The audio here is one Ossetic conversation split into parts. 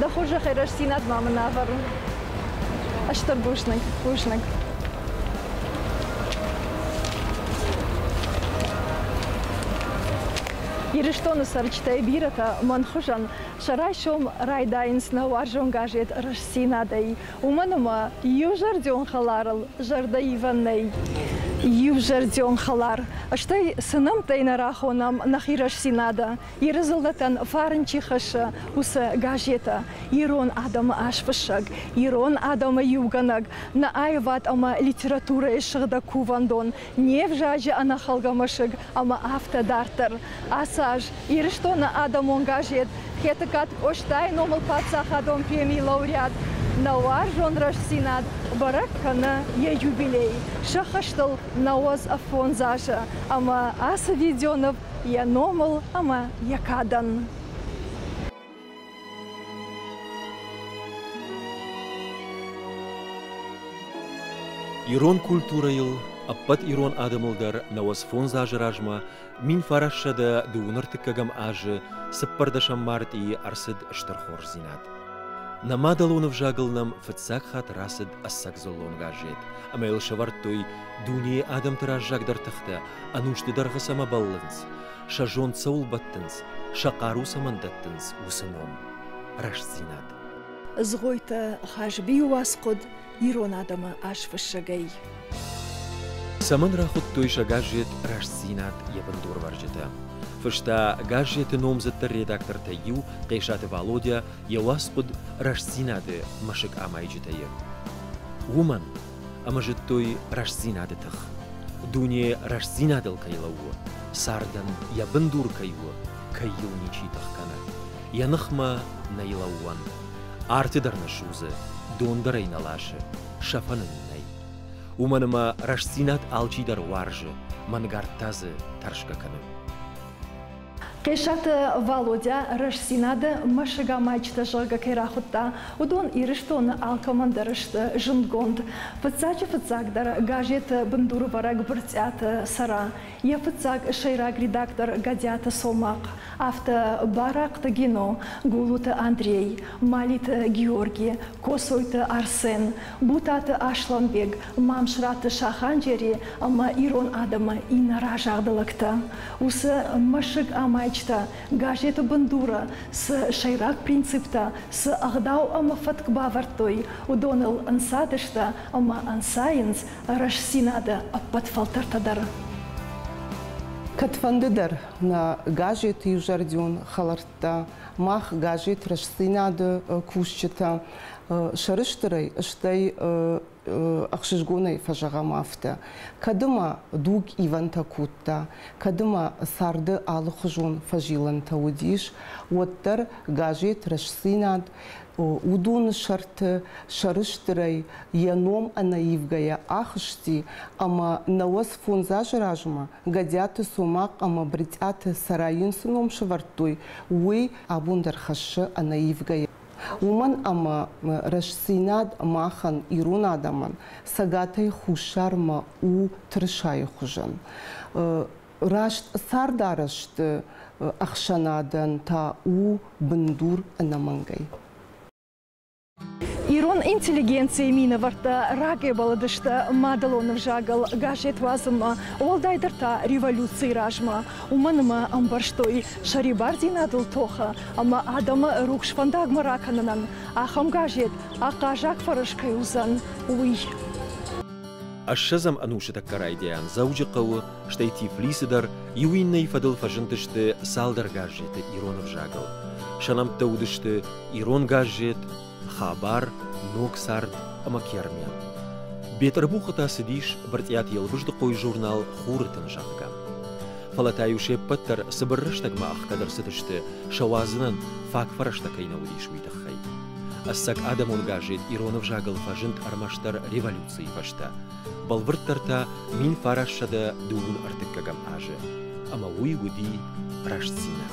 Дӕ хорзӕхӕй рӕстдзинад ма мын ӕвӕрын. Стӕг бузныг, бузныг. Ирыстоны цӕрджытӕй бирӕтӕ мӕн хуызӕн сӕ райсом райдайынц нӕ уарзон газет Рӕстдзинад-ӕй. Уымӕн ӕмӕ иузӕрдион хӕларыл зӕрдӕ ивӕн нӕй. Иузӕрдион хӕлар, стӕй цы нӕмттӕй нӕ рахонӕм нӕхи рӕстдзинады, Иры дзыллӕтӕн фарн чи хӕссы, уыцы газетӕ, ирон адӕмы азфыссӕг, ирон адӕмы иугӕнӕг, нӕ аивад ӕмӕ литературӕйы сыгъдӕг кувӕндон, Не взаджы ӕнӕхӕлгӕ мӕсыг ӕмӕ афтӕ дарддӕр. Ацы аз Ирыстоны адӕмон газет Хетӕгкаты Къостайы номыл паддзахадон премийы лауреат нӕ уарзон рӕстдзинад бӕрӕг кӕны йӕ юбилей, сӕ хӕстыл нӕуӕдз ӕффондз азы ӕмӕ ацы видеоныв йӕ номыл ӕмӕ йӕ кадӕн. Ирон культурӕйыл ӕппӕт ирон адӕмыл дӕр нӕуӕдз фондз азы размӕ мин фӕрӕссӕдӕ дыууын ӕртыккӕгӕм азы цыппӕрдӕсӕм мартъийы ӕрцыд стыр хорздзинад. Нӕ мадӕлон ӕвзагыл нӕм фыццаг хатт рацыд ӕцӕг дзыллон газет, ӕмӕ йыл сӕвӕрдтой дунейы адӕмты раззагдӕр тыхтӕ, ӕнусты дӕргъы цӕмӕ бӕллынц, сӕ зонд цӕуыл бӕттынц, сӕ хъару цӕмӕн дӕттынц, уыцы ном, рӕстдзинад. Дзгойты Хазбийы уацхъуыд ирон адӕмы азфыссӕгӕй. Цӕмӕн рахуыдтой сӕ газет Рӕстдзинад йӕ бындурвӕрджытӕ? Фыста газеты номдзыддӕр редактортӕй иу Хъесаты Валодя йӕ уацхъуыд Рӕстдзинад-ы мӕсыг амайджытӕ-йы. Уымӕн ӕмӕ зыдтой рӕстдзинады тых, дуне рӕстдзинадыл кӕй лӕууы, цардӕн йӕ бындур кӕй у, кӕй йыл ничи тых кӕны, йӕ ныхмӕ нӕй лӕууӕн, арты дӕр нӕ судзы, дон дӕр ӕй нӕ ласы, сӕфӕн ын нӕй. Уымӕн ӕмӕ рӕстдзинад алчидӕр уарзы, мӕнгард та дзы тӕрсгӕ кӕны. Хъесаты Валодя Рӕстдзинад-ы мӕсыгамайджытӕ зӕгъгӕ кӕй рахуыдта, уыдон Ирыстоны алкӕмӕн дӕр сты зындгонд. Фыццаджы-фыццагдӕр газеты бындурвӕрӕг Бырцъиаты Цӕра, йӕ фыццаг сӕйраг редактор Гӕдиаты Цомахъ, афтӕ Барахъты Гино, Гулуты Андрей, Малиты Георги, Коцойты Арсен, Бутаты Аслӕнбег, Мамсыраты Саханджери ӕмӕ ирон адӕмы иннӕ разагъды лӕгтӕ. уыцы мӕсыг амӕйджытӕ, газеты бындуры цы сӕйраг принциптӕ, цы ӕгъдау ӕмӕ фӕтк бавӕрдтой, уыдоныл ӕнцадысты ӕмӕ ӕнцайынц рӕстдзинады ӕппӕт фӕлтӕртӕ дӕр. Кӕдфӕнды дӕр нӕ газеты иузӕрдион хӕлӕрттӕ, мах газет Рӕстдзинад-ы кусджытӕ сӕрыстырӕй, стӕй ӕхсызгонӕй фӕзӕгъӕм афтӕ, кӕд ма дуг ивӕнтӕ кодта, кӕд ма царды алыхуызон фӕзилӕнтӕ уыдис, уӕддӕр газет Рӕстдзинад уыдоны сӕрты сӕрыстырӕй йӕ ном ӕнӕивгӕйӕ ахызти ӕмӕ науӕдз фондз азы размӕ Гӕдиаты Цомахъ ӕмӕ Брытъиаты Цӕрайӕн цы ном сӕвӕрдтой, уый абон дӕр хӕссы ӕнӕивгӕйӕ. уымӕн ӕмӕ рӕстдзинад махӕн, ирон адӕмӕн, Цӕгатӕй Хуссармӕ у тырысайы хуызӕн. Раст цардарӕзты ӕхсӕнадӕн та у бындур ӕнӕмӕнгӕй. Ирон интеллигенцийы минӕвӕрттӕ рагӕй бӕллыдысты мадӕлон ӕвзагыл газет уадзынмӕ, уӕлдайдӕр та революцийы размӕ. уымӕн ӕмӕ ӕмбӕрстой сӕрибардзинадыл тохы ӕмӕ адӕмы рухс фӕндагмӕ ракӕнынӕн ахӕм газет ахъаззаг фӕрӕз кӕй уыдзӕн, уый. Ссӕдзӕм ӕнусы тӕккӕ райдиан Дзӕуджыхъӕуы, стӕй Тифлисы дӕр иу иннӕйы фӕдыл фӕзындысты цалдӕр газеты ирон ӕвзагыл. Сӕ нӕмттӕ уыдысты Ирон газет, Хабар ног цард ӕмӕ Кермян. Бетъырбухы та цыдис Брытъиаты Елбыздыхъойы журнал Хуры-тын, зӕгъгӕ. Фӕлӕ та-иу се ппӕт дӕр цыбыр рӕстӕгмӕ ӕхгӕд ӕрцыдысты, сӕ уадзынӕн фаг фӕрӕзтӕ кӕй нӕ уыдис, уый тыххӕй. Ӕцӕг адӕмон газет ирон ӕвзагыл фӕзынд ӕрмӕстдӕр революцийы фӕстӕ, бӕлвырддӕр та мин фарассӕдӕ дыууын ӕртыккӕгӕм азы, ӕмӕ уый уыди рӕстдзинад.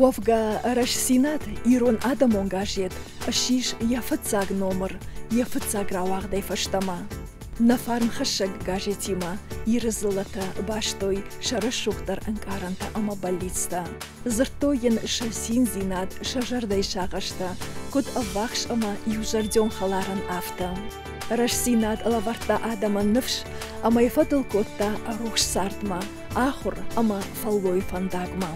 Уӕвгӕ Рӕстдзинад ирон адӕмон газет ссис йӕ фыццаг номыр йӕ фыццаг рауагъдӕй фӕстӕмӕ. Нӕ фарнхӕссӕг газетимӕ Иры дзыллӕтӕ бастой сӕ рӕсугъддӕр ӕнкъарӕнтӕ ӕмӕ бӕллицтӕ. Дзырдтой йын сӕ циндзинад, сӕ зӕрдӕйы сагъӕстӕ, куыд ӕввахс ӕмӕ иузӕрдион хӕларӕн, афтӕ. Рӕстдзинад лӕвӕрдта адӕмӕн ныфс ӕмӕ йӕ фӕдыл кодта рухс цардмӕ. ахур ӕма фӕллой фӕндагмӕ.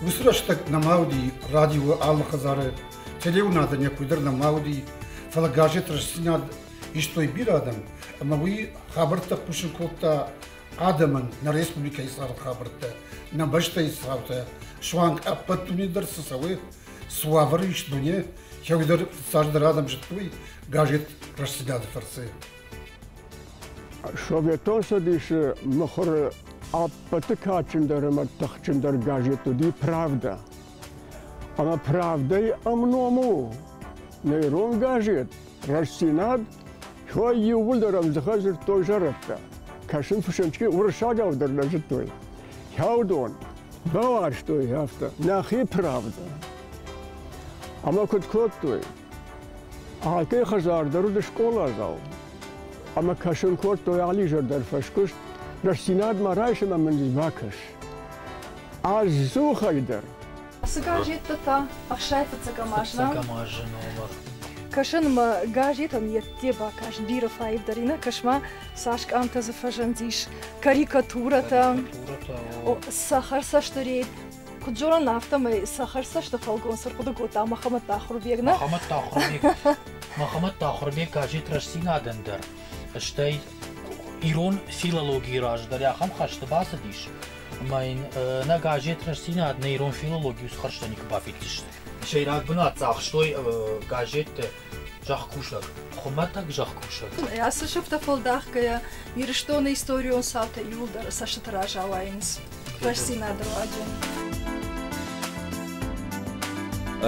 Уыцы рӕстӕг нӕма уыди радио алы хӕдзары, телеуынады некуй дӕр нӕма уыди, фӕлӕ газет Рӕстдзинад истой бирӕ адӕм, ӕмӕ уый хабӕрттӕ хъусын кодта адӕмӕн нӕ республикӕйы царды хабӕрттӕ, нӕ бӕстӕйы цаутӕ, суанг ӕппӕт дуне дӕр цы цӕуы, цы уавӕры ис дуне, кӕуыдӕр цасдӕр адӕм зыдтой газет Рӕстдзинад-ы фӕрцы. Советон Цӕдисы мыхуыры ӕппӕты кадджындӕр ӕмӕ тыхджындӕр газет уыди «Правда». Ӕмӕ «Правда»-йы ӕмном у нӕ ирон газет «Рӕстдзинад», кӕй иууылдӕр ӕвдзыхӕй дзырдтой зӕрӕдтӕ. Кӕсын фысымчки уырыссагау дӕр нӕ зыдтой. Кӕуыдон бауарзтой афтӕ нӕхи правда. Ӕмӕ куыд кодтой, Алкӕй хӕдзар дӕр уыд скъоладзау ӕмӕ кӕсын кодтой алы изӕр дӕр фӕскуыст, рӕстдзинадмӕ райсӕм ӕмӕ низ бакӕс. Ӕдзухӕй дӕр. Цы газеттӕ та? Ӕхсай фыццӕгӕм азна. Фыццӕгӕм азы номыр. Кӕсын мӕ газетӕн йедде бакӕс бирӕ фӕивдӕринаг, кӕс-ма, цас къамтӕ дзы фӕзындис, карикатурӕтӕ, цӕхӕр цӕсты рейд. Куыд зонын, афтӕмӕй сӕ хӕрзцӕсты фӕлгон цы рхъуыды кодта Махамӕт Тахырбег, нӕ? Махамӕт Тахырбег. Махамӕт Тахырбег газет Рӕстдзинад-ӕн дӕр, стӕй ирон филологийы раз дӕр ахӕм хӕсты бацыдис, ӕмӕ йын нӕ газет Рӕстдзинад нӕ ирон филологийы схӕрзтӕ никуы бафиддзысты. Сӕйраг бынат цагътой газетты Зӕхкусӕг, хуымӕтӕг зӕхкусӕг. Ацы сыфтӕ фӕлдахгӕйӕ Ирыстоны историон цаутӕ иуылдӕр цӕстыты раз ауайынц рӕстдзинады руаджы.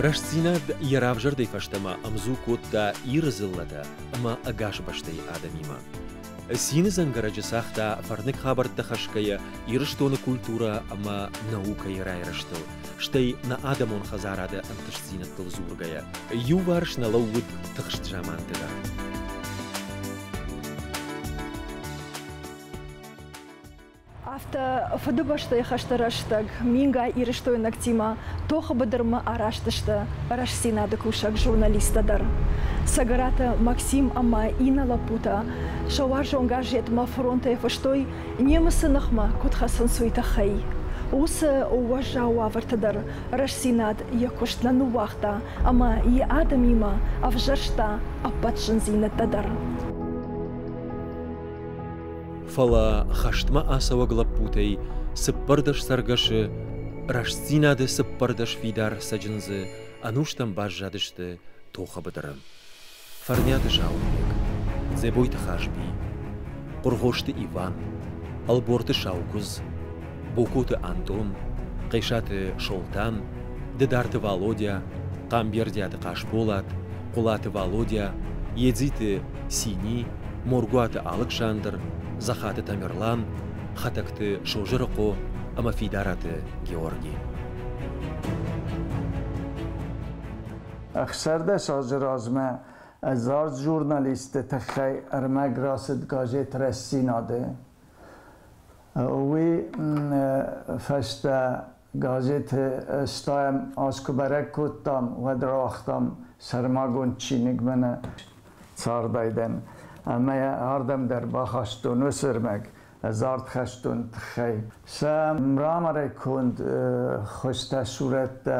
Рӕстдзинад йӕ равзӕрдӕй фӕстӕмӕ ӕмдзу кодта Иры дзыллӕтӕ ӕмӕ ӕгас бӕстӕйы адӕмимӕ. Цины дзӕнгӕрӕджы цагъта фӕрныг хабӕрттӕ хӕсгӕйӕ Ирыстоны культурӕ ӕмӕ наукӕйы райрӕзтыл, стӕй нӕ адӕмон хӕдзарады ӕнтыстдзинӕдтыл дзургӕйӕ, иуварс нӕ лӕууыд тыхст заманты дӕр. Афтӕ Фыдыбӕстӕйы хӕсты рӕстӕг мингай ирыстойнӕгтимӕ тохы быдырмӕ араст сты Рӕстдзинад-ы кусӕг-журналисттӕ дӕр. Цӕгӕраты Максим ӕмӕ иннӕ лӕппутӕ сӕ уарзон газетмӕ фронтӕй фыстой Немыцы ныхмӕ куыд хӕцынц, уый тыххӕй. Уыцы уӕззау уавӕрты дӕр Рӕстдзинад йӕ куыст нӕ ныууагъта ӕмӕ йӕ адӕмимӕ ӕвзӕрста ӕппӕт зындзинӕдтӕ дӕр. Фӕлӕ хӕстмӕ ацӕуӕг лӕппутӕй цыппӕрдӕс цӕргӕсы Рӕстдзинады цыппӕрдӕс фидар цӕджындзы ӕнустӕм баззадысты тохы быдыры. Фӕрниаты Саулбег, Дзӕбойты Хазби, Хъуыргъосты Иван, Ӕлборты Саукуыдз, Бокоты Антон, Хъесаты Солтан, Дыдарты Валодя, Хъамбердиаты Хъасболат, Хъуылаты Валодя, Едзиты Сини, Моргуаты Алыксандр, Захаты Тамерлан, Хӕтӕгты Созырыхъо ӕмӕ Фидараты Георги. ӕхсӕрдӕс азы размӕ ӕдзард журналистты тыххӕй ӕрмӕг рацыд газет Рӕстдзинад-ы. Уый фӕстӕ газеты стайӕм аз куы бӕрӕг кодтам, уӕд рауагътам сӕрмагонд чиныг мӕнӕ цардӕй дӕн. Ӕмӕ ардӕм дӕр бахастон уыцы ӕрмӕг ӕдзард хӕстон тыххӕй. Сӕ мраморӕй конд хуызтӕ сурӕттӕ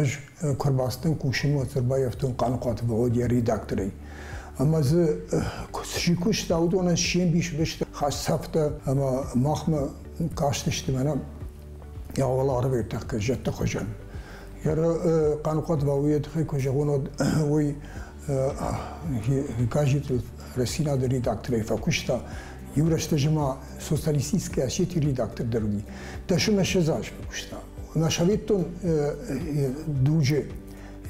Ӕз куы ӕрбацыдтӕн кусын, уӕд ӕрбаййӕфтон Хъаныхъуаты Валодя редакторӕй. Ӕмӕ дзы чи куыста, уыдонӕн се мбис уыдысты хӕсцӕфтӕ ӕмӕ махмӕ кастысты мӕнӕ уӕларвӕй тӕккӕ зӕдты хуызӕн. Йӕ Хъаныхъуат Валодя тыххӕй куы зӕгъон, уӕд уый газеты Росинады редакторӕй фӕкуыста, иу рӕстӕджы ма социалистической Осетии редактор дӕр уыди. Дӕсны мӕсӕдз азы куыста. Нӕ советтон дуджы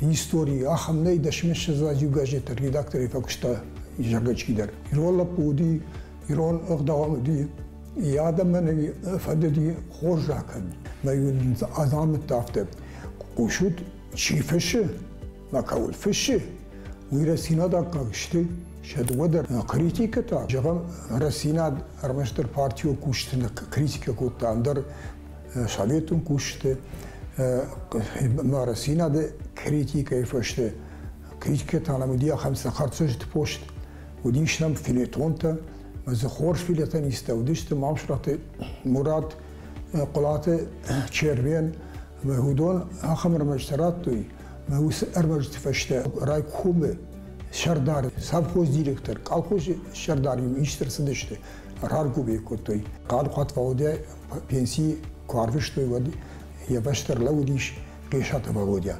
истории ахӕм нӕй дӕсны мӕсӕдз азы иу газеты редакторӕй фӕкуыста зӕргачки дӕр. Ирон лӕппу уыди, ирон ӕгъдауан уыди, йӕ адӕмӕн фӕдыди хорз закӕн. Мӕ азамӕтты афтӕ хъусут, чи фысы, мӕ кӕуыл фыссы, уый рӕсинаг аккаг сты, сӕ дыууӕ дӕр критикӕтӕ. Зӕгъӕм, рӕсинаг ӕрмӕстдӕр партийыл кусты критикӕ кодта, ӕндӕр советон кусты ӕмӕ рӕсинады критикӕйы фӕсте критикӕтӕ нӕм уыди ахӕм цӕхӕрцӕст пост, уыдис нӕм филетонтӕ, ӕмӕ дзы хорз филетонисттӕ уыдысты Мамсыраты Мурат, Хъуылаты Червен, Ӕмӕ уыдон ахӕм ӕрмӕджытӕ радтой, мӕ уыцы ӕрмӕджыты фӕстӕ райкомы сӕрдар, совхоз директор, колхозы сӕрдар-иу исты рцыдысты, раргомӕй кодтой. Хъанхъуат Валодя пенсии куы арвыстой, уӕд йӕ бӕсты ӕрлӕууыдис Хъесаты Валодя.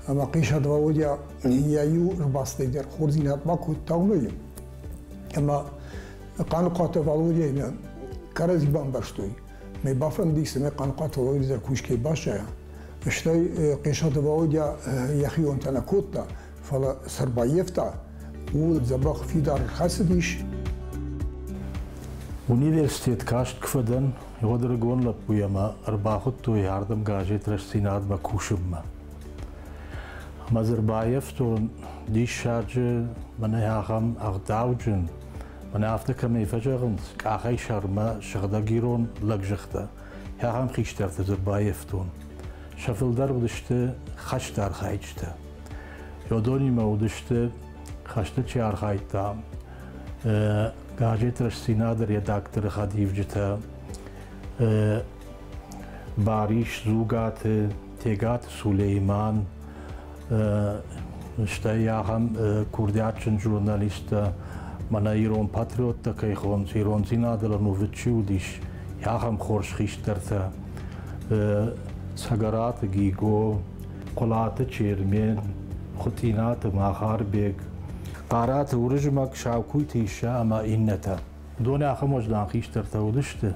Ӕмӕ Хъесаты Валодя йӕ иу ӕрбацыдӕй дӕр хорздзинад бакодта уымӕй. Ӕмӕ Хъанхъуаты Валодяймӕ кӕрӕдзи бамбӕрстой. Ме бафӕндик цӕмӕй Хъанхъуаты Володя дӕр кусгӕ басайа, стӕй Хъесаты Володя йӕхионтӕ нӕ кодта, фӕлӕ цы ӕрбаййӕфта, ууыл дзӕбӕх фидар ӕрхӕцыдис. Университет каст куы фӕдӕн, уӕд рыгон лӕппуйы ӕмӕ ӕрбахуыдтой ардӕм газет Рӕстдзинад-мӕ кусынмӕ. Ӕмӕ дзы ӕрбаййӕфтон диссаджы, мӕнӕ ахӕм ӕгъдауджын, Мӕнӕ афтӕ кӕмӕй фӕзӕгъынц, къахӕй сӕрмӕ сыгъдӕг ирон лӕг зӕгъта, ахӕм хистӕрты дзы баййӕфтон. Сӕ фылдӕр уыдысты хӕсты архайджытӕ. Йодонимӕ уыдысты, хӕсты чи архайдта, газет Рӕстдзинад-ы редакторы хӕдивджытӕ, Барис, Дзугаты, Тегат Сулейман, стӕй ахӕм курдиатджын журналисттӕ, мӕнӕ ирон патриоттӕ кӕй хонынц, ирондзинады рӕнувыд чи уыдис, ахӕм хорз хистӕртӕ. Цӕгӕраты Гиго, Хъуылаты Чермен, Хуытъинаты Махарбег, Хъараты Уырызмӕг, Саукуйты Иссӕ ӕмӕ иннӕтӕ. Уыдон ахӕм уӕздан хистӕртӕ уыдысты,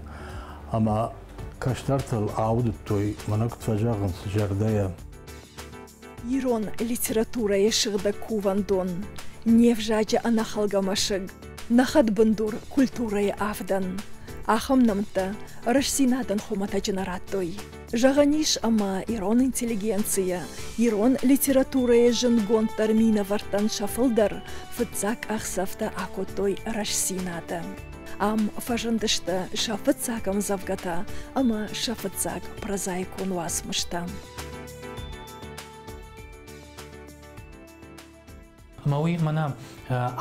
ӕмӕ Кӕстӕртыл аудыдтой, мӕнӕг фӕзӕгъынц, зӕрдӕйӕ. Ирон литературӕйы сыгъдӕг кувӕндон, не взаджы ӕнӕхӕлгӕ мӕсыг, нӕ хӕдбындур культурӕйы авдӕн. Ахӕм нӕмттӕ рӕстдзинадӕн хуымӕтӕджы нӕ радтой. Зӕгъӕн ис, ӕмӕ ирон интеллигенцийӕ, ирон литературӕйы зындгонддӕр минӕвӕрттӕн сӕ фылдӕр фыццаг къахдзӕфтӕ акодтой рӕстдзинады. Ам фӕзындысты сӕ фыццаг ӕмдзӕвгӕтӕ ӕмӕ сӕ фыццаг прозаикон уацмыстӕ. Ӕмӕ уый мӕнӕ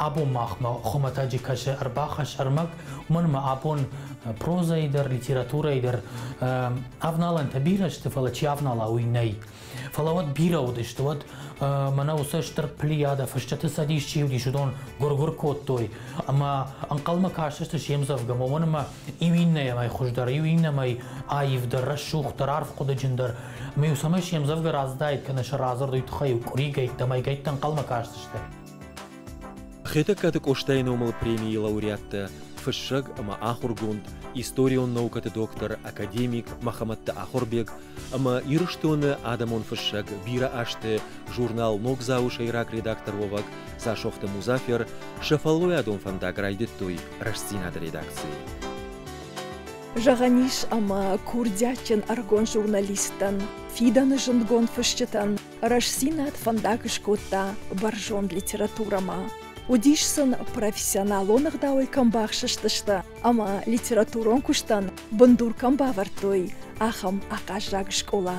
абон махмӕ хуымӕтӕджы кӕсы ӕрбахӕсс ӕрмӕг, уымӕн ӕмӕ абон прозӕйы дӕр, литературӕйы дӕр ӕвналӕнтӕ бирӕ сты, фӕлӕ чи ӕвнала, уый нӕй. Фӕлӕ уӕд бирӕ уыдысты, уӕд мӕнӕ уыцы стыр плеяда фысджыты цӕдис чи уыдис, уыдон гуыр-гуыр кодтой, ӕмӕ ӕнхъӕлмӕ кастысты се мдзӕвгӕмӕ, уымӕн ӕмӕ иу иннӕмӕй хуыздӕр, иу иннӕмӕй аивдӕр, рӕсугъддӕр, арфхъуыдыджындӕр. Ӕмӕ-иу цӕмӕй се мдзӕвгӕ раздаид кӕнӕ сӕ радзырд уый тыххӕй къуыригӕйттӕ, мӕйгӕйттӕ ӕнхъӕлмӕ кастысты. Хетӕгкаты Къостайы номыл премийы лауреаттӕ, фыссӕг ӕмӕ ахуыргонд, историон наукӕты доктор, академик Мӕхӕмӕтты Ахуырбег ӕмӕ Ирыстоны адӕмон фыссӕг, бирӕ азты журнал Ногдзау-ы сӕйраг редакторуӕвӕг Дзасохты Музафер сӕ фӕллойадон фӕндаг райдыдтой Рӕстдзинад-ы редакцийы. Зӕгъӕн ис ӕмӕ курдиатджын ӕрыгон журналисттӕн, фидӕны зындгонд фысджытӕн Рӕстдзинад фӕндаг скодта бӕрзонд литературӕмӕ. Уыдис сын профессионалон ӕгъдауӕй кӕм бахсыстысты ӕмӕ литературон куыстӕн бындур кӕм бавӕрдтой, ахӕм ахъаззаг скъола.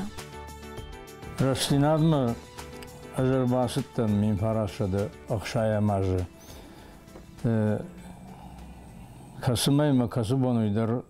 Рӕстдзинад-мӕ ӕз ӕрбацыдтӕн мин парассӕды ӕхсайӕм азы, кӕцымӕ мӕ кӕцы бон уый дӕр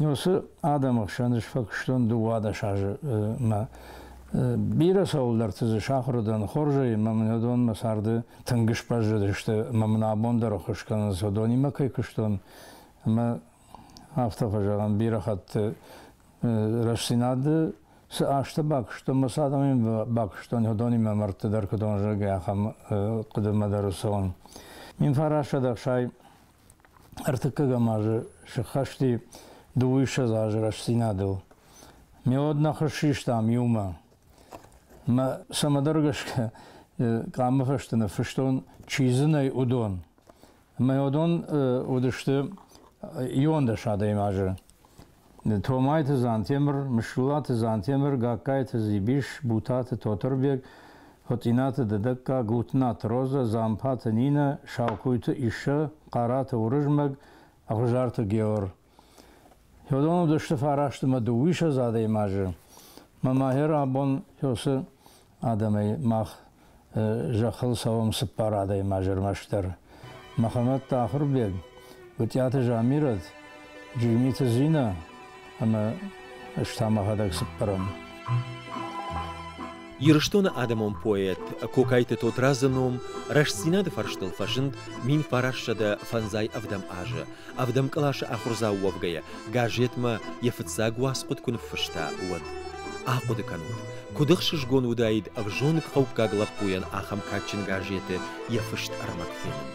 Уыцы адӕмы хсӕн сфӕкуыстон дыууадӕс азы мӕ. Бирӕ цӕуылдӕрты дзы сахуыр уыдӕн хорзӕй ӕмӕ мын уыдон мӕ царды тынг сбӕззыдысты ӕмӕ мын абон дӕр ӕххуыс кӕнынц, уыдонимӕ кӕй куыстон. Ӕмӕ афтӕ фӕзӕгъӕм, бирӕ хатты рӕстдзинады цы азтӕ бакуыстон, мӕ цы адӕмӕн бакуыстон, уыдонимӕ мӕрдты дӕр куыд уон, зӕгъгӕ, ахӕм хъуыдымӕ дӕр цӕуын. Мин фарасӕд ӕхсай Ӕртыккӕгӕм азы сыххӕсти дыууиссӕдз азы рӕстдзинадыл. Ме уӕд нӕ хыз систам иумӕ. Мӕ цӕмӕдӕр гӕсгӕ къамы фӕстӕ ныффыстон, чи дзы нӕй, уыдон. Ӕмӕ уыдон уыдысты иуӕндӕс адӕймаджы. Томайты Дзантемыр, Мыслулаты Дзантемыр, Гагкайты Дзибис, Бутаты Тотырбег, Хуыцъинаты Дыдӕгка, Гутнаты Роза, Дзампаты Нинӕ, Саукуйты Иссӕ, Хъараты Уырызмӕг, Ӕгъуызарты Геор. Йодон уыдысты фарасты мӕ дыууиссӕдз адӕймаджы. Мӕ мӕгьер абон Йосы адӕмӕй, мах зӕххыл цӕуӕм цыппар адӕймаджы ӕрмӕстдӕр. Мӕхӕмӕт Ахуырбег, Гуытъиаты Замирӕт, Джигмиты Зинӕ ӕмӕ ӕз та мӕхӕдӕг цыппӕрӕм. Ирыстоны адӕмон поэт Кокайты Тотрадзы ном рӕстдзинады фӕрстыл фӕзынд мин фарасзӕдӕ фӕндзай ӕвдӕм азы. ӕвдӕм къласы ахуырдзау уӕвгӕйӕ, газетмӕ йӕ фыццаг уацхъуыд куы ныффыста, уӕд. Ахъуыды кӕнут, куыд ӕхсызгон уыдаид ӕвзонгхъӕуккаг лӕппуйӕн ахӕм кадджын газеты йӕ фыст ӕрмӕг фенын.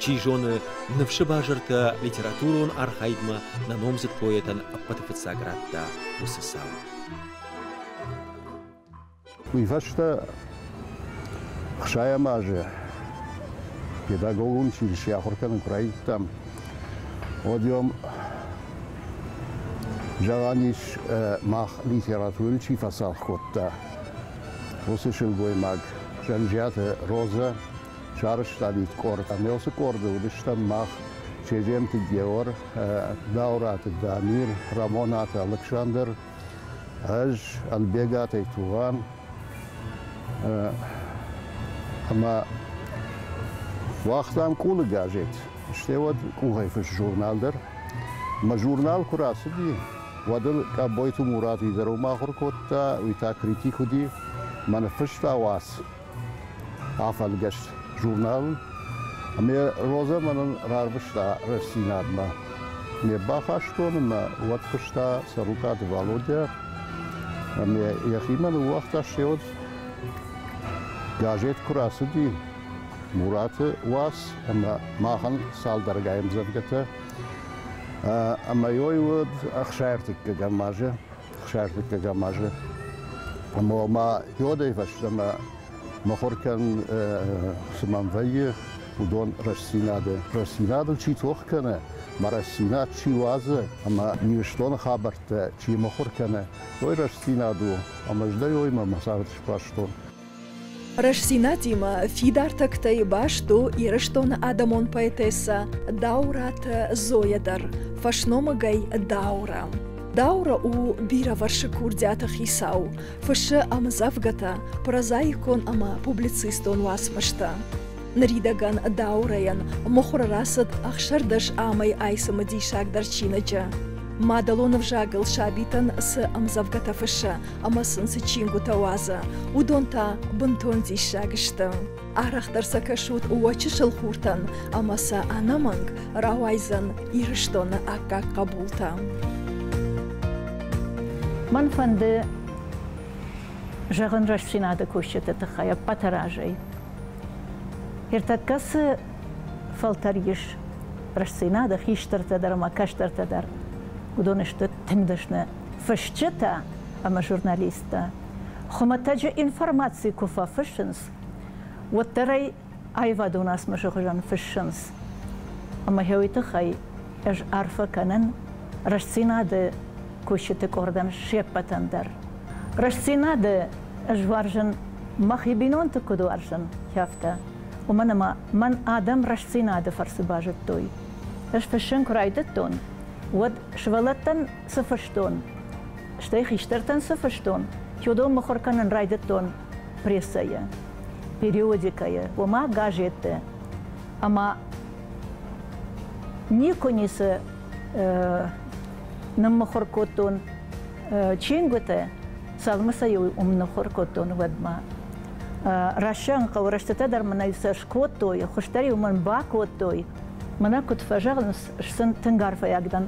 Чи зоны, ныфсы базыртӕ литературон архайдмӕ нӕ номдзыд поэтӕн ӕппӕты фыццаг радта уыцы цау. Уыйфӕстӕ ӕхсайӕм азы педагогон училище ахуыр кӕнын куы райдыдтам, уӕд-иом зӕгъӕн ис, мах литературӕ чи фӕцалх кодта, уыцы сылгоймаг Зӕнджиаты Роза сарӕзтаид къорд. Ӕмӕ уыцы къорды уыдыстӕм мах Чеджемты Геор, Даураты Дамир, Рӕмонаты Алыксандр, Ӕз Ӕлбегатӕй тугъан ӕма уагътам къулы газет, стӕй уӕд къухӕй фыст журнал дӕр. Мӕ журнал куы рацыди, уӕд ыл Къӕбойты Мурат изӕром ахуыр кодта, уый та критик уыди. Мӕ ныффыста уац афӕлгӕст журнал. Ме Роза мӕнӕн рарвыста Рӕстдзинад-мӕ. Ме бафарстон ӕмӕ уӕд куыста Сӕрукъаты Валодя. Ӕмӕ йӕхимӕ ныууагъта се уд. Газет куы рацыди Мураты уац ӕмӕ махӕн цалдӕргай ӕмдзӕвгӕтӕ. Ӕмӕ ой уыд ӕхсӕртыккӕгӕм азы 60-ӕм азы. Ӕмӕ ма йодӕй фӕстӕмӕ мыхуыр кӕнын, цы мӕм вӕййы, уыдон рӕстдзинады. Рӕстдзинадыл чи тох кӕны, ма рӕстдзинад чи уадзы ӕмӕ Ирыстоны хабӕрттӕ чи мыхуыр кӕны, уый рӕстдзинад у, ӕмӕ ӕз дӕ уыимӕ мӕ цард сбастон. Рӕстдзинад-имӕ фидар тӕгтӕй баст у Ирыстоны адӕмон поэтессӕ Дауыраты Зойӕ дӕр, фӕсномыгӕй Даура. Даура у бирӕвӕрсыг курдиаты хицау, фыссы ӕмдзӕвгӕтӕ, прозаикон ӕмӕ публицистон уацмыстӕ. Ныридӕгӕн Даурайӕн мыхуыр рацыд ӕхсӕрдӕс амӕй айцымы диссагдӕр чиныджы. Мадӕлон ӕвзагыл сабитӕн цы ӕмдзӕвгӕтӕ фыссы, ӕмӕ сын цы чингуытӕ уадза, уыдон та бынтон диссаг сты. Арӕхдӕр сӕ кӕсут уӕ чысыл хуртӕн ӕмӕ сӕ ӕнӕмӕнг рауайдзӕн Ирыстоны аккаг хъӕбултӕ. Мӕн фӕнды зӕгъын рӕстдзинады кусджыты тыххӕй ӕппӕты разӕй. Ӕртӕккӕ цы фӕлтӕр ис рӕстдзинады хистӕртӕ дӕр ӕмӕ кӕстӕртӕ дӕр, уыдон сты тынг дӕсны фысджытӕ ӕмӕ журналисттӕ хуымӕтӕджы информаци куы фӕфыссынц, уӕддӕр ӕй аивадон уацмысы хуызӕн фыссынц. Ӕмӕ хьуый тыххӕй ӕз арфӕ кӕнын Рӕстдзинад-ы кусджыты къордӕн се ппӕтӕн дӕр. Рӕстдзинад-ы ӕз уарзын мӕхи бинонты куыд уарзын, афтӕ. Уымӕн ӕмӕ мӕн адӕм Рӕстдзинад-ы фӕрцы базыдтой. Ӕз фыссын куы райдыдтон, уӕд сывӕллӕттӕн цы фыстон, стӕй хистӕртӕн цы фыстон, тюдом мыхуыр кӕнын райдыдтон прессӕйы, периодикӕйы, ома газетты. Ӕмӕ никуы ницы э, ныммыхуыр кодтон э, чингуыты, цалынмӕ сӕ иу уым ныхуыр кодтон уӕдмӕ. Рассӕн хъӕуы рӕстытӕ дӕр мын ӕй сӕ скодтой, хуыздӕр-иу мын бакодтой. Мӕнӕ куыд фӕзӕгъынц, сын тынг арфӕйаг дӕн,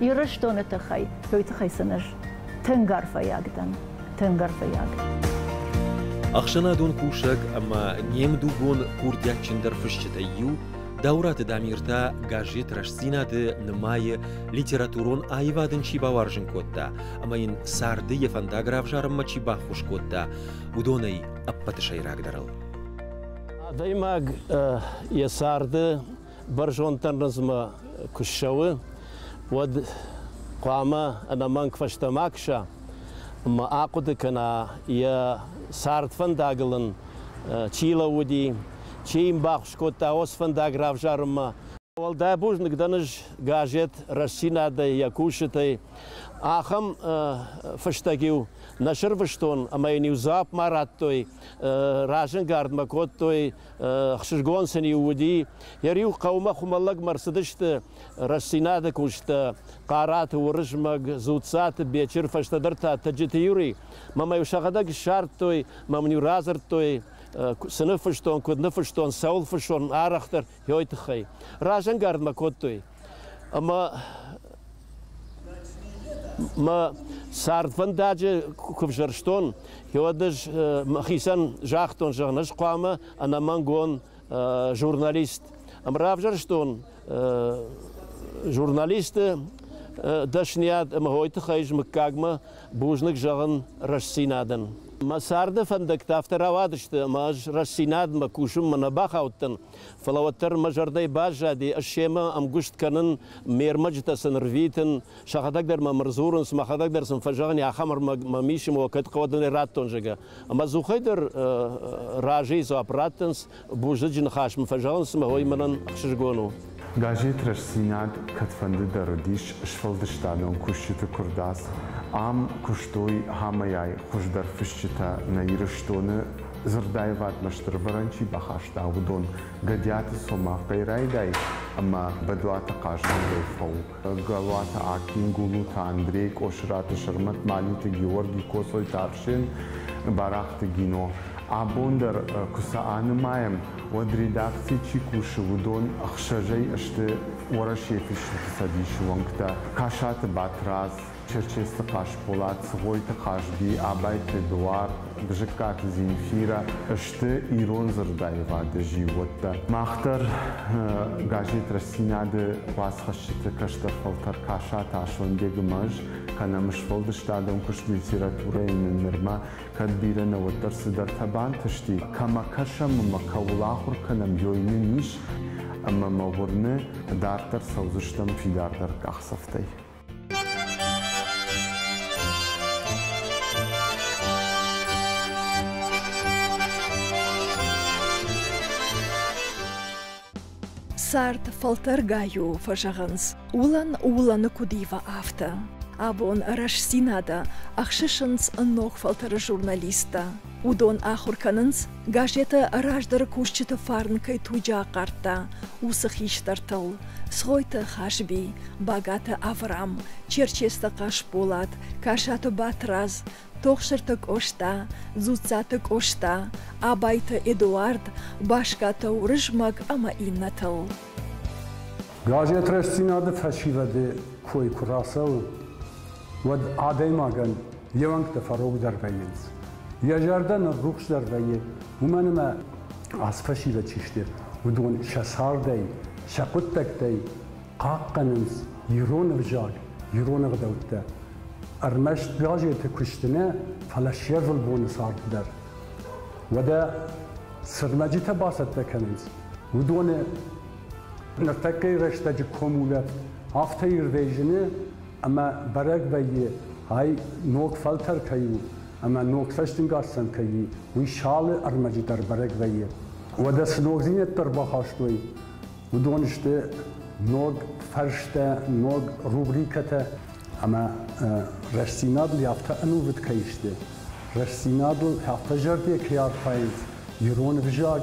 Ирыстоны тыххӕй, уый тыххӕй сын ӕз тынг арфӕйаг дӕн, тынг арфӕйаг. Ӕхсӕнадон кусӕг ӕмӕ не мдугон курдиатджындӕр фысджытӕй иу Дауыраты Дамир та газет Рӕстдзинад-ы нымайы, литературон аивад ын чи бауарзын кодта ӕмӕ йын царды йӕ фӕндаг равзарынмӕ чи баххуыс кодта, уыдонӕй ӕппӕты сӕйрагдӕрыл. Адӕймаг йӕ царды бӕрзонддӕр нывмӕ куы ссӕуы, уӕд хъуамӕ ӕнӕмӕнг фӕстӕмӕ кӕса ӕмӕ ахъуыды кӕна, йӕ цард фӕндагыл ын чи лӕууыди, чи йын баххуыс кодта уыцы фӕндаг равзарынмӕ. Уӕлдай бузныг дӕн ӕз газет Рӕстдзинад-ӕй, йӕ кусджытӕй. Ахӕм фыстӕг-иу нӕ сырвызтон ӕмӕ йын-иу дзуапп ма радтой, разӕнгард мӕ кодтой Хсызгон сын-иу уыди, йӕ риу хъӕумӕ хуымӕллӕгмӕ рцыдысты рӕстдзинады куысттӕ, Хъараты Уырызмӕг, Дзуццаты Бечыр, фӕстӕдӕр та Тӕджыты Юрий. Мӕмӕ-иу сӕхӕдӕг ссардтой, мӕм-иу радзырдтой, цы ныффыстон, куыд ныффыстон, цӕуыл фыссон, арӕхдӕр, йой тыххӕй. Разӕнгард мӕ кодтой. Ӕмӕ мӕ цардвӕндаджы куы взӕрстон, уӕд ӕз мӕхицӕн загътон, зӕгъын, ӕз хъуамӕ ӕнӕмӕнгон журналист. Ӕмӕ равзӕрстон журналисты дӕсныйад ӕмӕ уый тыххӕй ӕз мыггагмӕ бузныг зӕгъын рӕстдзинадӕн. Мӕ царды фӕндӕгтӕ афтӕ рауадысты, ӕмӕ ӕз рӕстдзинадмӕ кусынмӕ нӕ бахаудтӕн, Фӕлӕ уӕддӕр мӕ зӕрдӕ баззади семӕ ӕмгуыст кӕнын, ме рмӕджытӕ сын рвитын, сӕхӕдӕг дӕр мӕм ӕрдзурынц, мӕхӕдӕг дӕр сын фӕзӕгъын, ахӕм ӕрмӕг мӕм ис, ӕмӕ уӕ кӕд хъӕуӕдонӕй радтон, зӕгъгӕ. Ӕмӕ дзухӕй дӕр разыйы дзуапп раттынц, бузныджы ныхас мын фӕзӕгъынц ӕмӕ уый мӕнӕн ӕхсызгон у. Газет Рӕстдзинад кӕдфӕндыдӕр уыдис сфӕлдыстадон кусджыты куырдадз. Ам куыстой хамӕйӕй хуыздӕр фысджытӕ нӕ Ирыстоны Дзырдаивадмӕ стырвӕрӕн чи бахаста, уыдон Гӕдиаты Цомахъ кӕй райдай ӕмӕ Бӕдуаты хъазӕнгӕй фӕу, Галуаты Аким, Гулуты Андрей, Къосыраты Сӕрмӕт, Малиты Георги, Коцойты Арсен, Барахъты Гино. Абон дӕр куы сӕ анымайӕм, уӕд редакцийы чи кусы, уыдон ӕхсӕзӕй сты Уӕрӕсейы Фысджыты цӕдисы уӕнгтӕ, Касаты Батрадз, Черчесты Хъасболат, Цгъойты Хазби, Абайты Эдуард, Бзыккаты Земфирӕ сты ирон дзырдаивады зиууӕттӕ. Мах дӕр газетрӕстдзинады уацхӕссджыты кӕстӕр фӕлтӕр кӕса Тасонбегы мӕз, кӕнӕм сфӕлдыстадон куыст литературӕйы нын нырма кӕд бирӕ нӕ уӕддӕр цыдӕртӕ бантысти, кӕмӕ кӕсӕм ӕмӕ кӕуыл ахуыр кӕнӕм, ёй нын ис ӕмӕ мӕ уырны, дарддӕр цӕудзыстӕм фидардӕр къахдзӕфтӕй. Цард фӕлтӕргай у, фӕзӕгъынц, уылӕн уылӕны куыд ива, афтӕ. Абон рӕстдзинады ӕхсысынц ног фӕлтӕры журналисттӕ. Уыдон ахуыр кӕнынц, газетӕ раздӕры кусджыты фарн кӕй туджы ахъардта, уыцы хистӕртыл, Цгъойты Хазби, Багаты Аврам, Черчесты Хъасболат, Касаты Батрадз, Тохсырты Къоста, Дзуццаты Къоста, Абайты Эдуард, Баскаты Уырызмӕг ӕмӕ иннӕтыл. Газет Рӕстдзинад-ы фӕсивӕды кой куы рацӕуы, уӕд адӕймагӕн йе уӕнгтӕ фӕрогдӕр вӕййынц. Йӕ зӕрдӕ ныррухсдӕр вӕййы, уымӕн ӕмӕ ацы фӕсивӕд чи сты, уыдон сӕ цардӕй, сӕ хъуыддӕгтӕй хъахъхъӕнынц ирон ӕвзаг, ирон ӕгъдӕуттӕ. Ӕрмӕст газеты куысты нӕ, фӕлӕ се рвылбоны цард дӕр. Уӕдӕ сырнӕджытӕ бацӕттӕ кӕнынц уыдоны ныртӕккӕйы рӕстӕджы комулӕ афтӕ ирдӕй зыны, ӕмӕ бӕрӕг вӕййы, ай ног фӕлтӕр кӕй у ӕмӕ ног цӕстынгасӕн кӕй и, уый салы ӕрмӕджы дӕр бӕрӕг вӕййы. Уӕдӕ цы ногдзинӕдтӕ ӕрбахастой, уыдон сты ног фӕрстӕ, ног рубрикӕтӕ ӕмӕ рӕстдзинадыл афтӕ ӕнувыд кӕй сты, рӕстдзинадыл афтӕ зӕрде кӕй архайынц ирон ӕвзаг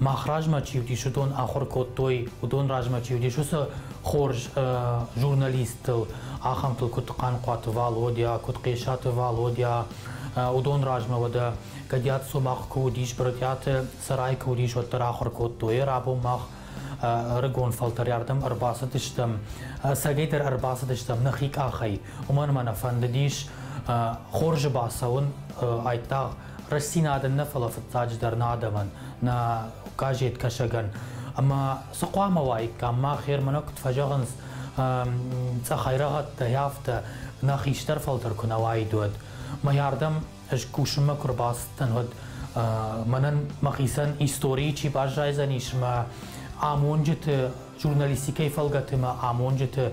мах размӕ чи вдис, уыдон ахуыр кодтой, уыдон размӕ чи вдис, уыцы хорз журналисттыл, ахӕмтыл, куыд Хъанхъуаты Валодя, куыд Хъесаты Валодя, уыдон размӕ уӕдӕ Гӕдиаты Цомахъ куы уыдис, Брытъиаты Цӕрай куы уыдис, уӕддӕр ахуыр кодтой. Рабон мах ӕрыгон фӕлтӕрӕрдӕм ӕрбацыдыстӕм, ӕцӕгӕйдӕр ӕрбацыдыстӕм нӕхи къахӕй, уымӕн ӕмӕ нӕ фӕндыдис хорзы бацӕуын айдагъ Рӕстдзинад нӕ, фӕлӕ фыццаджыдӕр нӕ адӕмӕн, нӕ газеткӕсӕгӕн. Ӕмӕ цы хъуамӕ уаиккам? Мах Херманы куыд фӕзӕгъынц, цъӕхӕйрӕгъӕдтӕй афтӕ нӕ хистӕр фӕлтӕр куы нӕ уаид, уӕд. Мӕйардӕм ӕз кусынмӕ куы рбацыдтӕн, уӕд мӕнӕн мӕхицӕн историйы чи баззайдзӕнис мӕ амонджыты, журналистикӕйы фӕлгӕты мӕ амонджыты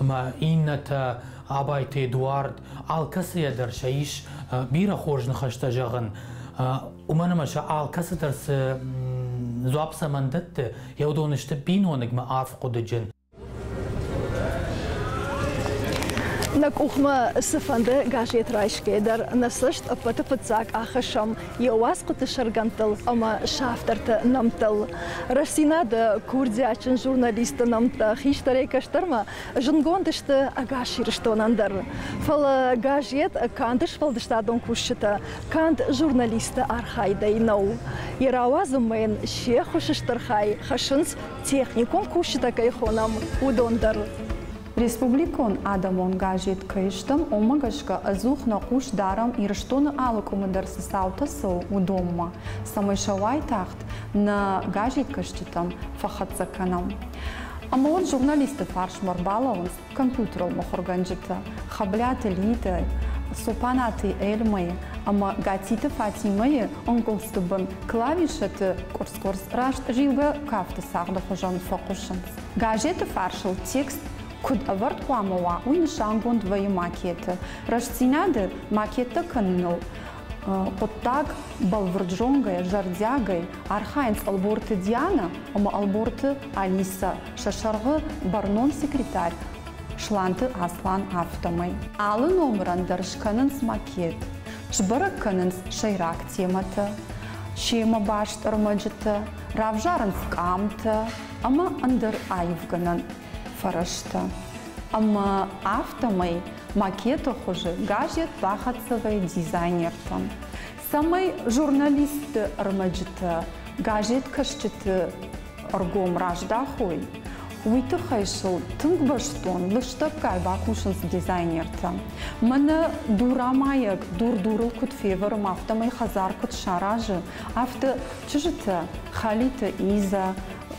ӕмӕ иннӕтӕ Абайты Эдуард, алкӕцыйӕ дӕр сӕ ис бирӕ хорз ныхӕстӕ зӕгъын, уымӕн ӕмӕ сӕ алкӕцыдӕр цы дзуапп цӕмӕн дӕтты, йӕ уыдон сты биноныгмӕ арф хъуыдыджын. Нӕ къухмӕ цыфӕнды газет райсгӕ дӕр нӕ цӕст ӕппӕты фыццаг ахӕссӕм йӕ уацхъуыты сӕргӕндтыл ӕмӕ савтортӕ нӕмттыл, Рӕсинады курдиатджын журналисты нӕмттӕ хистӕрӕй кӕстӕрмӕ зындгонд сты ӕгас Ирыстонӕн дӕр. Фӕлӕ газет канд сфӕлдыстадон кусджытӕ, канд журналистты архайдӕй нӕу. Йӕ рауадзынмӕ йын се ххуысы стыр хай хӕссынц, техникон кусджытӕ кӕй хонӕм, уыдон дӕр. Республикон адӕмон газет Кӕй стӕм, уымӕ гӕсгӕ ӕдзух нӕ хъус дарӕм Ирыстоны алы къуымы дӕр цы цаутӕ цӕуы, уыдонмӕ, цӕмӕй сӕ уайтагъд нӕ газеткӕсджытӕм фӕхӕццӕ кӕнӕм. Ӕмӕ уӕд журналистты фарсмӕ ӕрбалӕууынц компьютерон мыхуыргӕнджытӕ, Хӕблиаты Литӕ, Цопанаты Эльмӕйы ӕмӕ Гатиты Фатимӕйы ӕнгуылдзты бын клавишӕты къуырц-къуырц раст зилгӕ кафты цагъды хуызӕн фӕхъуысынц. Газеты фарсыл текст куыд ӕвӕрд хъуамӕ уа, уый нысангонд вӕййы макеты рӕстдзинады макеттӕ кӕныныл. Хъуыддаг бӕлвырд зонгӕйӕ, зӕрдиагӕй архайынц Ӕлборты Диана ӕмӕ Ӕлборты Алисӕ, сӕ сӕргъы бӕрнон секретарь Сланты Аслан, афтӕмӕй. Алы номырӕн дӕр скӕнынц макет, сбӕрӕг кӕнынц сӕйраг темӕтӕ, семӕ баст ӕрмӕджытӕ, равзарынц къамтӕ, ӕмӕ ӕндӕр аивгӕнӕн фӕрӕзтӕ. Ӕмӕ афтӕмӕй макеты хуызы газет бахӕццӕ дизайнертӕм, цӕмӕй журналистты ӕрмӕджытӕ газеткӕсджыты ӕргом раздахой, уый тыххӕй сыл тынг бӕстон лыстӕггай бакусынц дизайнертӕ. Мӕнӕ дурамайӕг дур дурыл куыд февӕры, афтӕмӕй хӕдзар куыд саразы, Афтӕ чызджытӕ Халиты Иза,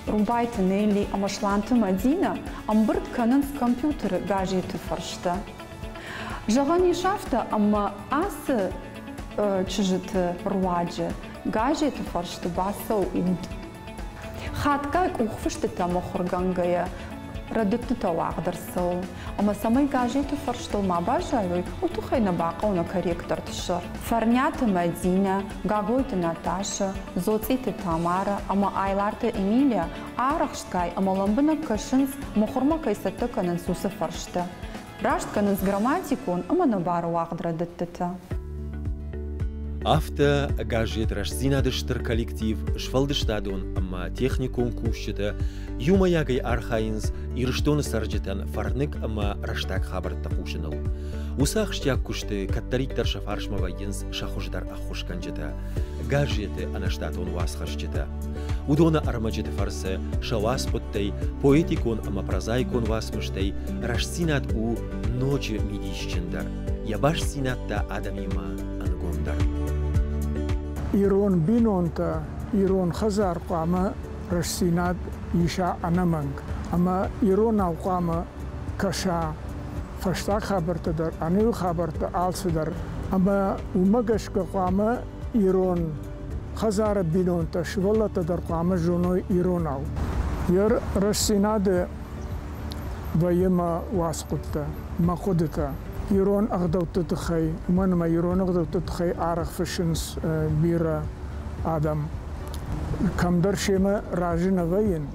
Рубайты Нелли ӕмӕ Сланты Мадинӕ ӕмбырд кӕнынц компьютеры газеты фӕрстӕ. Зӕгъӕн ис афтӕ, ӕмӕ ацы чызджыты руаджы газеты фӕрсты бацӕугъд Хатгай къухфыстытӕм ахуыргӕнгӕйӕ, рӕдыдтытӕ уагъд ӕрцӕуы, ӕмӕ цӕмӕй газеты фӕрстыл ма баззайой, уый тыххӕй нӕ бахъӕуы корректорты сӕр. Фӕрниаты Мӕдинӕ, Гаглойты Наташӕ, Дзоцъиты Тамарӕ ӕмӕ Айларты Эмилия арӕхстгай ӕмӕ лӕмбынӕг кӕсынц, мыхуырмӕ кӕй цӕттӕ кӕнынц уыцы фӕрстӕ. раст кӕнынц грамматикон ӕмӕ нӕбары уагъд рӕдыдтытӕ. Афтӕ газет Рӕстдзинад-ы стыр коллектив, сфӕлдыстадон ӕмӕ техникон кусджытӕ иумӕйагӕй архайынц Ирыстоны цӕрджытӕн фӕрныг ӕмӕ рӕстаг хабӕрттӕ хъусыныл. Уыцы ахсджиаг куысты кӕддӕриддӕр сӕ фарсмӕ вӕййынц сӕ хуыздӕр ӕххуысгӕнджытӕ. Гаржеты ӕнӕштатон уацхӕсджытӕ. Уыдоны ӕрмӕджыты фӕрцы сӕ уацхъуыдтӕй, поэтикон ӕмӕ прозаикон уацмыстӕй рӕстдзинад у ноджы мидисджындӕр, йӕ бастдзинад та адӕмимӕ ӕнгомдӕр. Ирон бинонтӕ ирон хӕдзар хъуамӕ рӕстдзинад иса ӕнӕмӕнг ӕмӕ иронау хъуамӕ кӕса фӕстаг хабӕрттӕ дӕр, ӕнӕуи хабӕрттӕ алцыдӕр. Ӕмӕ уымӕ гӕсгӕ хъуамӕ ирон хӕдзары бинонтӕ, сывӕллӕттӕ дӕр хъуамӕ зоной иронау йӕ рӕстдзинады вӕййы мӕ уацхъуыдтӕ, мӕ хъуыдытӕ. Ирон ӕгъдӕутты тыххӕй, уымӕн ӕмӕ ирон ӕгъдӕутты тыххӕй арӕх фыссынц бирӕ адӕм. Кӕмдӕр семӕ разы нӕ вӕййын,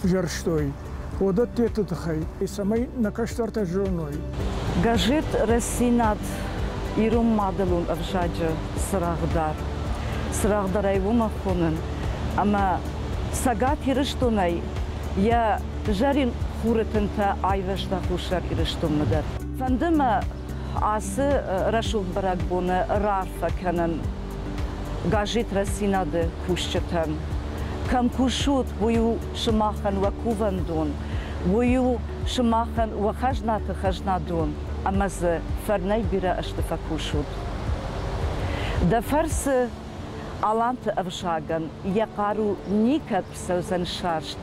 фзӕрстой уыдӕттеты тыххӕй, цӕмӕй нӕ кӕстӕртӕ зоной. Газет Рӕсинад ирон мадӕлон ӕвзаджы цырагъдар цырагъдарӕй уымӕ хонын, ӕмӕ Цӕгат Ирыстонӕй йӕ зӕрин хуры тынтӕ айвӕзта Хуссар Ирыстонмӕ дӕр. Фӕнды мӕ ацы рӕсугъд бӕрӕгбоны раарфӕ кӕнын газетрӕсинады кусджытӕн. Кӕм кусут, уый у сымахӕн уӕ кувӕндон, уый у сымахӕн уӕ хӕзнаты хӕзнадон ӕмӕ дзы фӕрнӕй бирӕ ӕзты фӕкусут. Дӕ фӕрцы Аланты ӕвзагӕн йӕ хъару никӕд фӕцӕудзӕн сӕрст.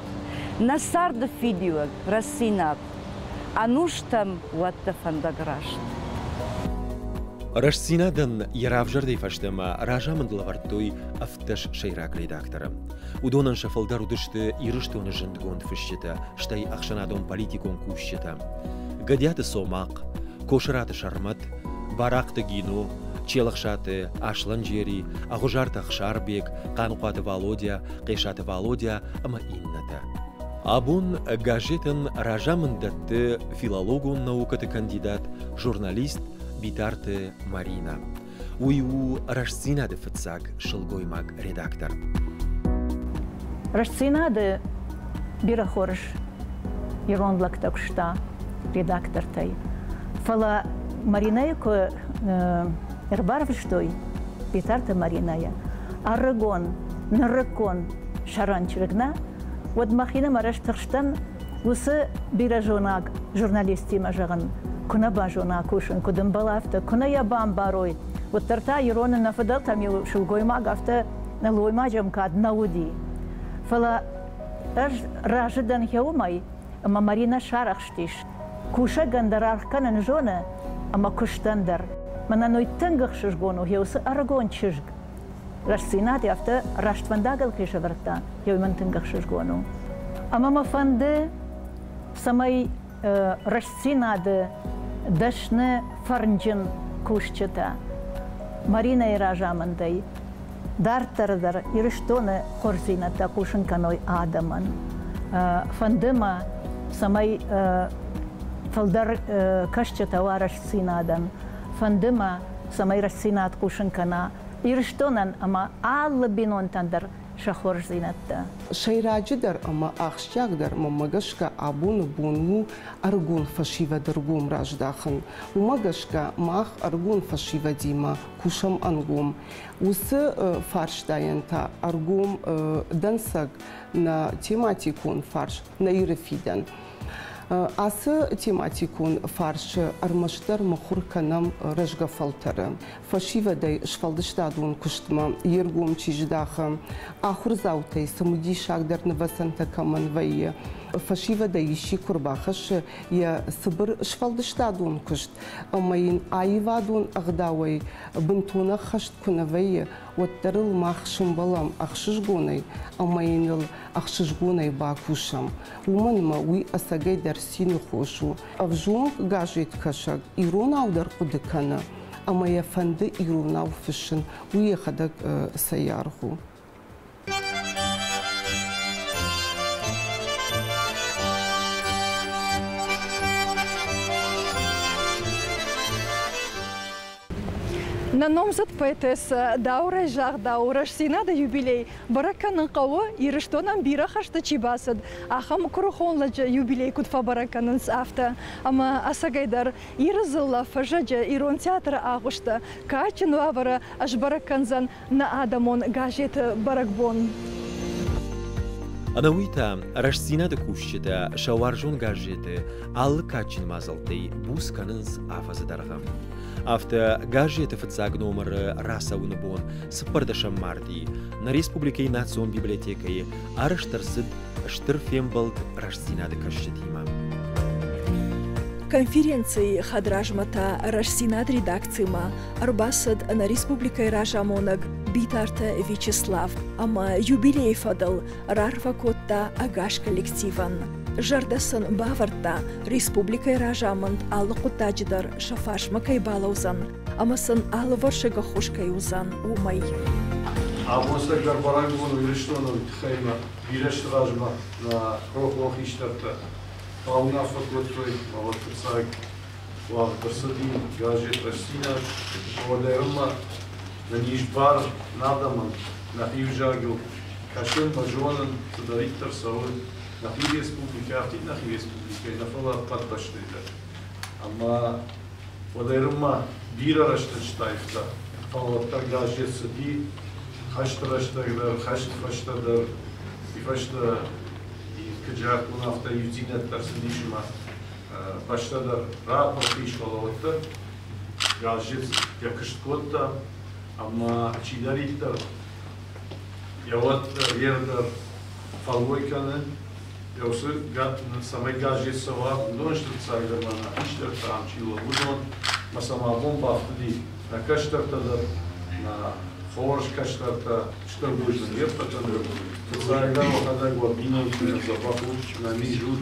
Нӕ царды фидиуӕг, рӕсинаг, ӕнустӕм уӕд дӕ фӕндаг раст. Рӕстдзинад-ӕн йӕ равзӕрдӕй фӕстӕмӕ разамынд лӕвӕрдтой ӕвддӕс сӕйраг редакторы. Уыдонӕн сӕ фылдӕр уыдысты Ирыстоны зындгонд фысджытӕ, стӕй ӕхсӕнадон-политикон кусджытӕ. Гӕдиаты Цомахъ, Косыраты Сӕрмӕт, Барахъты Гино, Челӕхсаты Аслӕнджери, Ӕгъуызарты Ӕхсарбег, Хъанхъуаты Валодя, Хъесаты Валодя ӕмӕ иннӕтӕ. Абон газетӕн разамынд дӕтты филологон наукӕты кандидат, журналист Битарты Марина. Уый у Рӕстдзинад-ы фыццаг сылгоймаг редактор. Рӕстдзинад-ы бирӕ хорз ирон лӕгтӕ куыста редактортӕй. Фӕлӕ Маринӕйы куы ӕрбарвыстой Битарты Маринӕйы, ӕрыгон, нырыккон сӕрӕн чырыг нӕ, уӕд мӕхинымӕр ӕз тыхстӕн уыцы бирӕзонаг журналисттимӕ зӕгъын, куы нӕ базона кусын, куыд ӕмбӕл афтӕ, куы нӕ йӕ бамбарой, уӕддӕр та ирон нӕ фыдӕлтӕм-иу сылгоймаг афтӕ нӕлоймаджы ӕмкад нӕ уыди. Фӕлӕ ӕз разы дӕн гъеуымӕй, ӕмӕ Маринӕ сарӕхстис. Кусӕгӕн дӕр аргъ кӕнын зоны, ӕмӕ куыстӕн дӕр. Мӕнӕ нуйтынг ӕхсызгон у гъе уыцы ӕрыгон чызг. Рӕстдзинад афтӕ рӕствӕндагыл кӕй сӕвӕрдта, уый мын тынг ӕхсызгон у. Ӕмӕ мӕ фӕнды, цӕмӕй рӕстдзинады дӕсны фӕрнджын кусджытӕ Маринӕйы разамындӕй дарддӕр дӕр Ирыстоны хорздзинӕдтӕ хъусын кӕной адӕмӕн. Фӕнды мӕ, цӕмӕй фылдӕр кӕсджытӕ уа рӕстдзинадӕн. Фӕнды мӕ, цӕмӕй рӕстдзинад хъусын кӕна Ирыстонӕн ӕмӕ алы бинонтӕн дӕр сӕ хорздзинӕдтӕ. Сӕйраджыдӕр ӕмӕ ахсджиагдӕр мӕмӕ гӕсгӕ абоны бон у ӕрыгон фӕсивӕды ргом раздахын. Уымӕ гӕсгӕ мах ӕрыгон фӕсивӕдимӕ кусӕм ӕнгом. Уыцы фарстайӕн та ӕргом дӕнцӕг нӕ тематикон фарс, нӕ Иры фидӕн. Ацы тематикон фарсы ӕрмӕстдӕр мыхуыр кӕнӕм рӕзгӕ фӕлтӕры. Фӕсивӕдӕй сфӕлдыстадон куыстмӕ йе ргом чи здахы, ахуырдзаутӕй цымыдисагдӕр нывӕцӕнтӕ кӕмӕн вӕййы, фӕсивӕдӕй исчи куы рбахӕссы йӕ цыбыр сфӕлдыстадон куыст ӕмӕ йын аивадон ӕгъдауӕй бынтон ӕххӕст куы нӕ вӕййы, уӕддӕр ыл мах сымбӕлӕм ӕхсызгонӕй ӕмӕ йын ыл ӕхсызгонӕй бакусӕм. уымӕн ӕмӕ уый ӕцӕгӕйдӕр цины хос у. Ӕвзонг газеткӕсӕг иронау дӕр хъуыды кӕны ӕмӕ йӕ фӕнды иронау фыссын, уый йӕхӕдӕг цӕй аргъ у. Нӕ номдзыд поэтессӕ Дауырӕй загъдау, рӕстдзинады юбилей бӕрӕг кӕнын хъӕуы, Ирыстонӕн бирӕ хӕсты чи бацыд, ахӕм куырыхон лӕджы юбилей куыд фӕбӕрӕг кӕнынц, афтӕ. Ӕмӕ, ӕцӕгӕйдӕр, Иры дзыллӕ, фӕзӕджы ирон театры агъуысты кадджын уавӕры ӕзбӕрӕг кӕндзӕн Нӕ адӕмон газеты бӕрӕгбон. Ӕнӕуый та рӕстдзинады кусджытӕ сӕ уарзон газеты алы кадджын мадзӕлттӕй буц кӕнынц афӕдзы дӕргъы. Афтӕ газеты фыццаг номыры рацӕуыны бон цыппӕрдӕсӕм марти нӕ республикӕйы Национ библиотекӕйы арӕзт ӕрцыд стыр фембӕлд рӕстдзинады кӕсджытимӕ. Конференцийы хӕдразмӕ та рӕстдзинад редакцимӕ ӕрбацыд нӕ республикӕйы разамонӕг Битарты Вячеслав ӕмӕ юбилейы фӕдыл рарфӕ кодта ӕгас коллективӕн. Зӕрдӕ сын бавӕрдта, республикӕйы разамынд алы хъуыддаджы дӕр сӕ фарсмӕ кӕй балӕудзӕн ӕмӕ сын алывӕрсыг ӕххуыс кӕй уыдзӕн, уымӕй. Абон сӕргӕпӕрӕнгон Ирыстоны тыххӕй ма бирӕ сты размӕ нӕ рохуымӕ хистӕртӕ бауынаффӕ кодтой, мӕ уӕд фыццаг уагъд ӕрцыди газет Растдзинад, уӕдӕй ӕмӕ нын ис бар нӕ адӕмӕн нӕхи vzагыл кӕсын ӕмӕ зонын, цыдӕриддӕр цӕрой нӕхи республикӕ, афтид нӕхи республикӕйы нӕ фӕлӕ ӕппӕт бӕстӕйы дӕр. Ӕмӕ уӕдӕй-ма бирӕ рӕстӕг стайфта, фӕлӕ газет цыди хӕсты рӕстӕг дӕр, хӕсты фӕстӕ дӕр. Уый фӕстӕ куыд загътон, афтӕ иудзинӕд ӕрцыди сымах фӕстӕдӕр рапорты ис, фӕлӕ уӕддӕр газет йӕ куыст кодта, ӕмӕ чидӕриддӕр йӕ уӕд йе рдӕр фӕллой кӕны, йӕ уыцы цӕмӕй газет цӕуа, уыдон сты фыццагдӕр мӕнӕ хистӕртӕ ам чи уыдон, ӕмӕ сӕм абон бафтыди нӕ кӕстӕртӕ дӕр, нӕ хорз кӕстӕртӕ, стыр бузныг не ппӕтӕн. Фыццагдӕр уӕхӕдӕг уӕ бинонтимӕ дзӕбӕх ут, нӕ мин зут,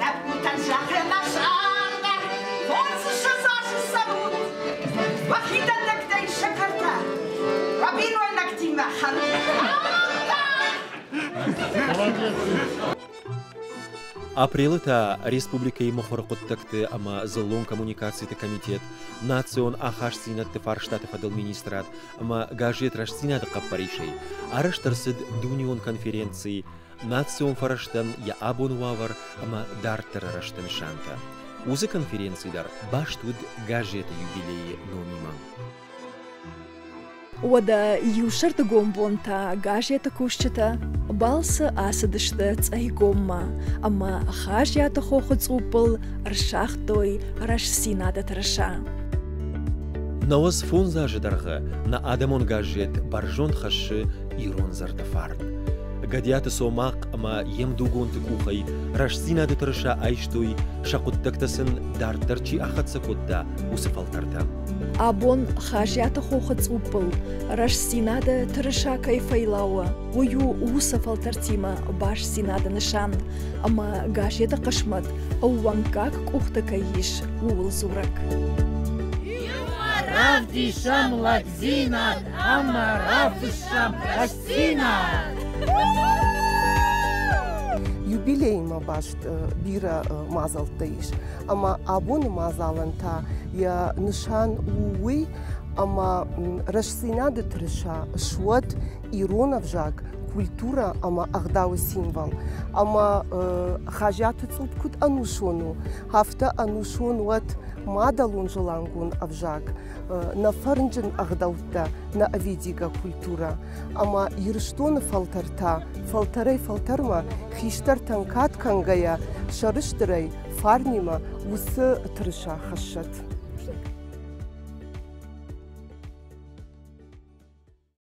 Лӕппутӕн зӕгъемӕ зӕгъгӕ, хорзы сазасы цӕрут, уӕ хидӕндӕгтӕй сӕкӕртӕ, уӕ бинойнӕгтимӕ хӕрут. Апрелы та республикӕйы мыхуыры хъуыддӕгты ӕмӕ дзыллон коммуникациты комитет, национ ахастдзинӕдты фарстаты фӕдыл министрад ӕмӕ газет Рӕстдзинад-ы хъӕппӕрисӕй арӕзт ӕрцыд дунеон конференци национ фӕрӕзтӕн йӕ абоны уавӕр ӕмӕ дарддӕры рӕзты нысантӕ. Уыцы конференци дӕр баст уыд газеты юбилейы номимӕ. Уӕдӕ иу сӕрдыгон бон та газеты кусджытӕ балцы ацыдысты Цъайгоммӕ ӕмӕ Хазиаты хохы цъуппыл ӕрсагътой рӕстдзинады тырыса. Науӕдз фондз азы дӕргъы нӕ адӕмон газет бӕрзонд хӕссы ирон зӕрдӕ фарн. Гӕдиаты Цомахъ ӕмӕ йе мдугонты къухӕй рӕстдзинады тырыса айстой, сӕ хъуыддӕгтӕ сын дарддӕр чи ахӕццӕ кодта, уыцы фӕлтӕртӕ. Абон Хазиаты хохы цъуппыл рӕстдзинады тырыса кӕй фӕйлауы, уый у уыцы фӕлтӕртимӕ бастдзинады нысан, ӕмӕ газеты хъысмӕт ӕууӕнкаг къухты кӕй ис, ууыл дзурӕг. Равдисӕм лӕгдзинад ӕмӕ равдысӕм Юбилеймӕ баст бирӕ мадзӕлттӕ ис, ӕмӕ абоны мадзалӕн та йӕ нысан у уый, ӕмӕ рӕстдзинады тырыса суӕд ирон ӕвзаг, культурӕ ӕмӕ ӕгъдауы символ. Ӕмӕ Хазиаты цъупп куыд ӕнусон у, афтӕ ӕнусон уӕд мадӕлон-зылангон ӕвзаг. нӕ фӕрнджын ӕгъдӕуттӕ, нӕ ӕвидигӕ культурӕ. Ӕмӕ Ирыстоны фӕлтӕр та фӕлтӕрӕй-фӕлтӕрмӕ хистӕртӕн кад кӕнгӕйӕ сӕрыстырӕй фарнимӕ уыцы тырыса хӕссӕт.